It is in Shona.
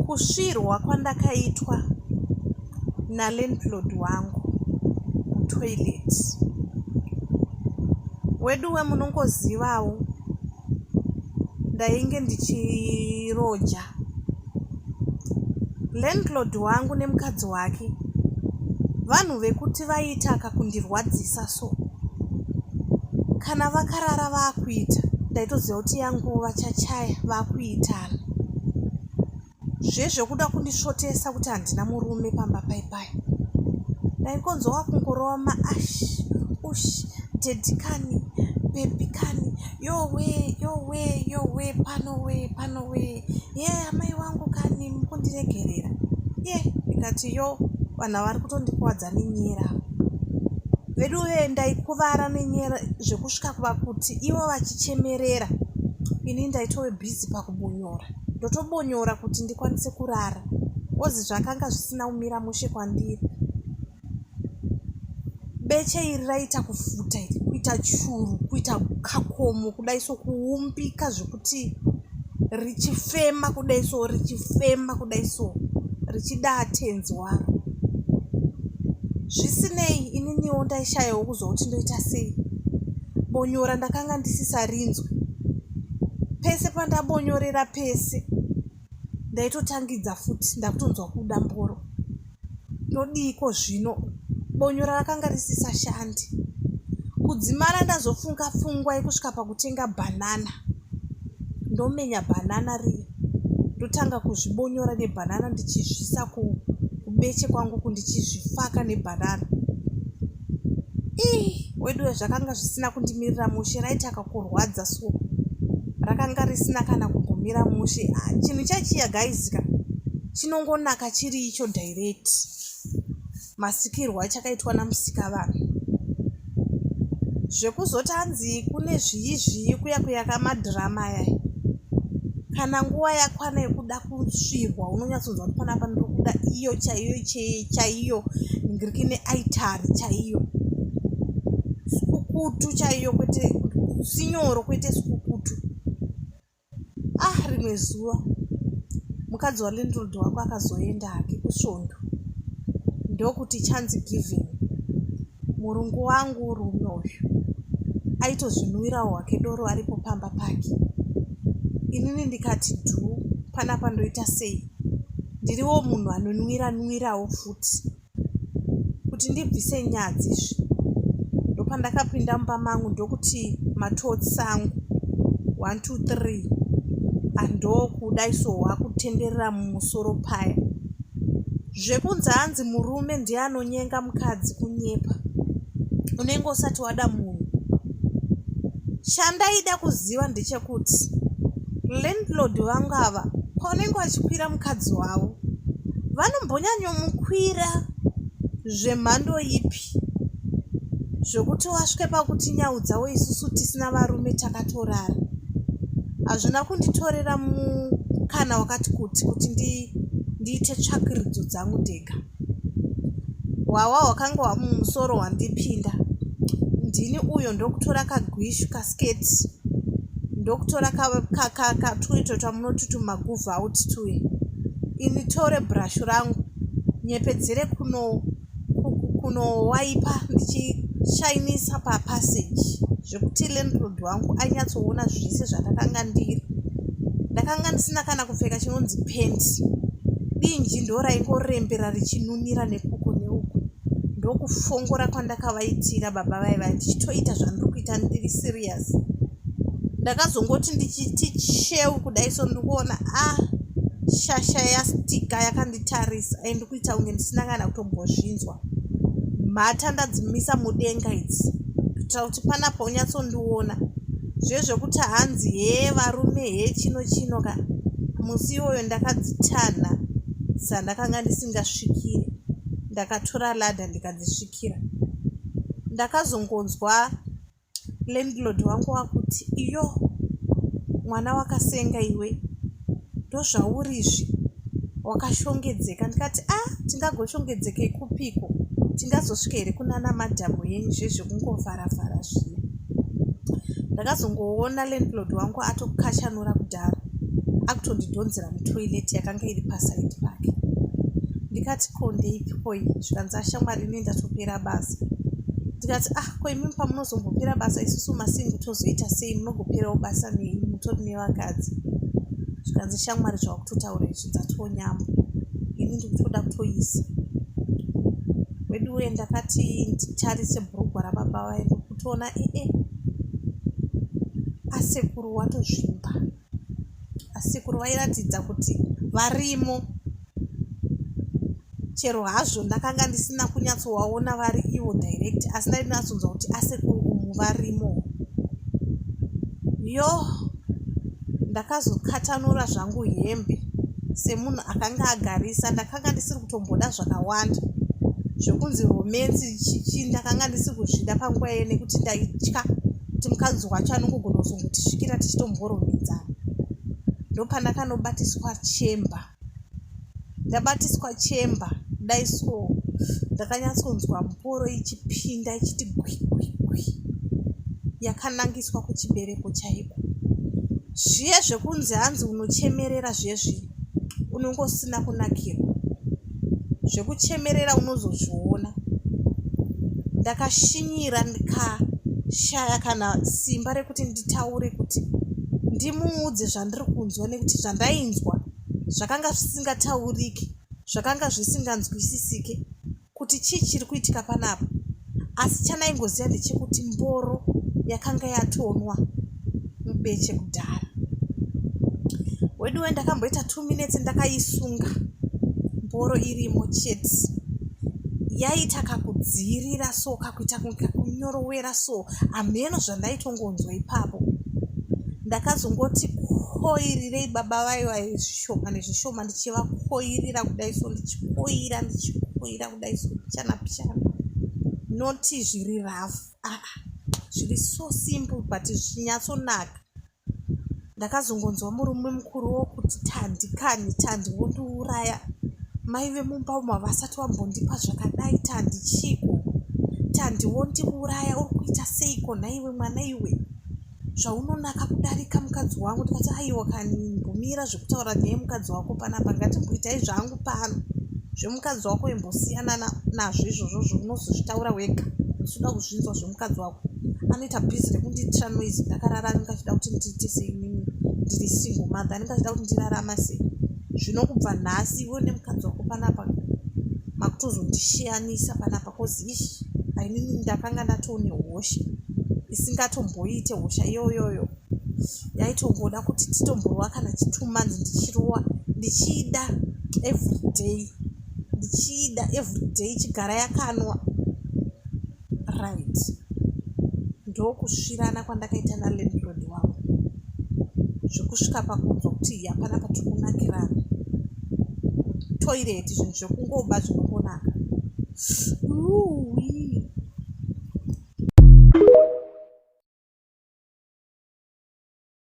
kusvirwa kwandakaitwa nalandlord wangu mutoilet weduwe munongozivawo ndainge ndichiroja landlord wangu nemukadzi wake vanhu vekuti vaitaka kundirwadzisa kuita so kana vakarara vakuita ndaitoziva kuti yangu vachachaya vakuitana zvezvekuda kundisvotesa kuti handina murume pamba paipai ndaikonzwa kungorova maash ush dedikani bebikani yowe yowe yowe panowe panowe ye yeah, amai wangu kani mukundiregerera ye yeah, ndikati yo vanhu vari kutondikwadza ndakakuvadza nenyera vedu vee ndaikuvara nenyera zvekusvika kuva kuti ivo vachichemerera ini ndaitove bhizi pakubonyora ndotobonyora kuti ndikwanise kurara ozi zvakanga zvisina kumira mushe kwandiri beche iri raita kufuta iri kuita churu kuita kakomo kudai sokuumbika zvekuti richifema kudai so richifema kudai so richida atenzi waro zvisinei ininiwo ndaishayawo kuzwa kuti ndoita sei bonyora ndakanga ndisisarinzwe pese pandabonyorera pese ndaitotangidza futi ndakutonzwa kuda mboro ndodiiko zvino bonyora rakanga risisashandi kudzimara ndazofunga pfungwa yekusvika pakutenga bhanana ndomenya bhanana riya ndotanga kuzvibonyora nebhanana ndichizvisa kubeche kwangu kundichizvifaka nebhanana ii weduwe zvakanga zvisina kundimirira mushe raiti akakurwadza so rakanga risina kana kumbomira mushe ah, chinhu chachiya gaizika chinongonaka chiri icho direct masikirwo achakaitwa namusika vanhu zvekuzoti anzi kune zviyi zviyi kuya kuyaka madhirama aya kana nguva yakwana yekuda kusvirwa unonyatsonzwa kuti panapa ndokuda iyo chaiyo chaiyo ngiriki neaitari chaiyo sikukutu chaiyo kwete sinyoro kwete sikukutu ah rimwe zuva mukadzi walindrod wako akazoenda hake kusvondo ndokuti chanzi giving murungu wangu rume uyu aitozvinwirawo hwake doro aripo pamba pake inini ndikati dhuu panapa ndoita sei ndiriwo munhu anonwira nwirawo futi kuti ndibvise nyadzi izvi ndopandakapinda mumba mangu ndokuti matotsi sangu one two three andokuda iso wakutenderera mumusoro paya zvekunzi hanzi murume ndiye anonyenga mukadzi kunyepa unenge usati wada munhu chandaida kuziva ndechekuti landlord vangu ava paunenge wachikwira mukadzi wavo vanombonyanyomukwira zvemhando ipi zvekuti wasvike pakuti nhau dzavo isusu tisina varume takatorara hazvina kunditorera mukana wakati kuti kuti ndiite tsvakiridzo dzangu ndega hwawa hwakanga wamumusoro wandipinda ndini uyo ndokutora kagwishu basket ndokutora katwuito twamunoti tumaguvhu out tuye ini tore brashu rangu nyepedzere kuno kunowaipa ndichishainisa papassage zvekuti landlord wangu anyatsoona zvese zvandakanga ndiri ndakanga ndisina kana kupfeka chinonzi penti dinji ndoraingorembera richinunira nekuko neuko ndokufongora kwandakavaitira baba vaye vaye ndichitoita zvandiri kuita ndiri serious ndakazongoti ndichiti cheu kudai so ndikuona a ah, shasha yastika yakanditarisa ai ndikuita kunge ndisina kana kutombozvinzwa mhata ndadzimisa mudenga idzi kuitira kuti panapa unyatsondiona zve zvekuti hanzi hee varume hee chino chino ka musi iwoyo ndakadzitanha sandakanga ndisingasvikire ndakatora ladha ndikadzisvikira ndakazongonzwa landlord wangu wakuti iyo mwana wakasenga iwe ndozvauri izvi wakashongedzeka ndikati a ah, tingagoshongedzeka ikupiko tingazosvika here kunana madhamu yenyu zvezvekungovharavhara zviya ndakazongoona landlord wangu atokashanura kuti kudaro akutondidhonzera mutoilet yakanga iri pasaidi pake ndikati ko ndeipi koi zvikanzi ashamwari ini ndatopera basa ndikati ah ko imimi pamunozombopera basa isusu masingi tozoita sei munogoperawo basa nei mutori nevakadzi zvikanzi shamwari zvakutotaura izvi dzatonyamba ini ndikutoda kutoisa weduwe ndakati nditarise bhurugwa rababa vaye ndokutoona ee eh, eh. asekuru watozvimba asekuru vairatidza kuti varimo chero hazvo ndakanga ndisina kunyatsovaona vari ivo direct asi ndainyatsonzwa kuti asekuru umu varimo yoh ndakazokatanura zvangu hembe semunhu akanga agarisa ndakanga ndisiri kutomboda zvakawanda zvekunzi romensi chichi ndakanga ndisiri kuzvida panguva iye nekuti ndaitya kuti mukadzi wacho anongogona kuzongotisvikira tichitomboromedzana ndopandakanobatiswa chemba ndabatiswa chemba dai so ndakanyatsonzwa mboro ichipinda ichiti gwikwikwi yakanangiswa kuchibereko chaiko zviye zvekunzi hanzi unochemerera zvezvi unongosina kunakirwa zvekuchemerera unozozviona ndakashinyira ndikashaya kana simba rekuti nditaure kuti ndimuudze zvandiri kunzwa nekuti zvandainzwa zvakanga zvisingatauriki zvakanga zvisinganzwisisike kuti chii chiri kuitika panapa asi chandaingoziva ndechekuti mboro yakanga yatonwa mubeche kudhara weduwe ndakamboita two minutes ndakaisunga mboro irimo chete yaita kakudziirira so kakuita kunge kakunyorowera so hameno zvandaitongonzwa ipapo ndakazongoti koirirei baba vayo vayo zvishoma nezvishoma ndichivakoirira kudai so ndichikoira ndichikoira kudai so pichana pichana noti zviri rafu aa ah, ah, zviri so simple but zvinyatsonaka ndakazongonzwa murume mukuru wokuti tandi kani tandi wondiuraya mai vemumba umo havasati vambondipa zvakadai tandi chiiko tandi wondiuraya uri kuita seiko nhaiwe mwana iwe zvaunonaka kudarika mukadzi wangu ndikati aiwa kani mbomira zvekutaura neye mukadzi wako panapa ngatimboitai zvangu pano zvemukadzi wako imbosiyana nazvo izvozvo zvounozozvitaura wega usuda kuzvinzwa mukadzi wako anoita bhizi rekundiitira noise ndakarara anenge achida kuti ndiite sei nini ndiri single mother anenge achida kuti ndirarama sei zvino kubva nhasi iwe nemukadzi wako panapa makutozondishiyanisa panapa kozishi ainini ndakanga ndatoone hosha isingatomboite hosha iyoyoyo yaitongoda kuti titomborova kana chitwo months ndichirova ndichida everyday ndichida everyday chigara yakanwa right ndokusvirana kwandakaita nalandlord wangu zvekusvika pakunzwa kuti hapana patiri kunakirana toireti zvinhu zvekungoba zvinongonaka